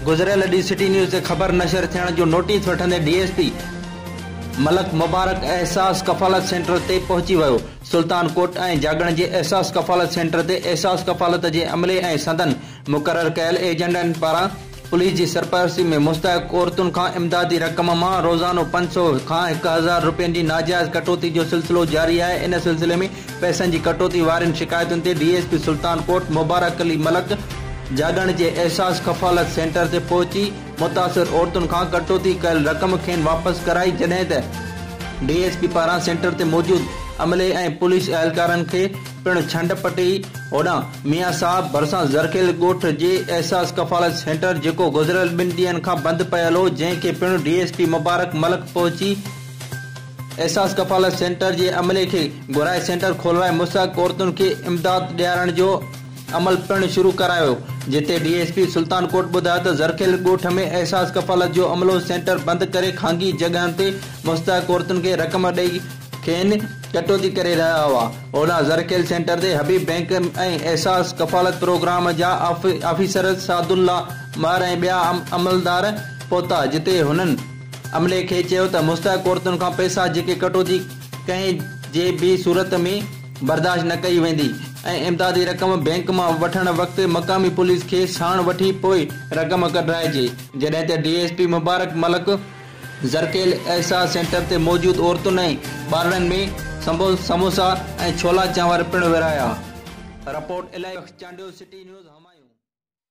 گذريل ڏينهن city news تي خبر نشر ٿيڻ جو نوٽيس وٺندي D S P Malik Mubarak Ehsaas Kafalat centre تي پهچي ويو سلطان ڪوٽ ۽ جاڳڻ جي احساس ڪفالت سينٽر تي احساس ڪفالت جي عملي ۽ سندن مقرر ڪيل ايجنڊن پاران پوليس جي سرپرستي ۾ مستحق عورتن کان امدادي رقم مان روزانو پنج سؤ کان هڪ هزار رپين جي ناجائز ڪٽوتي جو سلسلو جاري آهي ان سلسلي ۾ پئسن جي ڪٽوتي وارين شڪايتن تي D S P Sultan Kot Mubarak Ali Malik جاڳڻ جي احساس ڪفالت سينٽر تي پهچي متاثر عورتن کان ڪٽوتي ڪيل رقم کين واپس ڪرائي جڏهن ته ڊي ايس پي پاران سينٽر تي موجود عملي ۽ پوليس اهلڪارن کي پڻ ڇنڊ پٽي. هوڏانهن ميان صاحب ڀرسان زرخيل ڳوٺ جي احساس ڪفالت سينٽر جيڪو گذريل ٻن ڏينهن کان بند پيل هو جنهن کي پڻ D S P Mubarak Malik پهچي احساس ڪفالت سينٽر جي عملي کي گهرائي سينٽر کولرائي مستحق عورتن کي امداد ڏيارڻ جو عمل پڻ شروع ڪرايو جتي D S P Sultan Kot ٻڌايو ته زرخيل ڳوٺ ۾ احساس ڪفالت جو عملو سينٽر بند ڪري خانگي جڳهن تي مستحق عورتن کي رقم ڏئي کين ڪٽوتي ڪري رهيا هئا. اولا زرخيل سينٽر تي حبيب بئنڪ ۽ احساس ڪفالت پروگرام جا آفيسر سعدالله مهر ۽ ٻيا عملدار پهتا جتي هنن عملي کي چيو ته مستحق عورتن کان پئسا جيڪي ڪٽوتي ڪنهن جي به صورت ۾ برداشت نه ڪئي ويندي ۽ امدادي رقم بئنڪ مان وٺڻ وقت مقامي پوليس کي ساڻ وٺي پوء رقم ڪڍرائجي. جڏهن ته D S P Mubarak Malik Zarkhel Ehsaas centre تي موجود عورتن ۽ ٻارڙن ۾ سموسا ۽ ڇولا چانور پڻ ورهايا. Report, Ilahi Bux Chandio, city news, Humayun.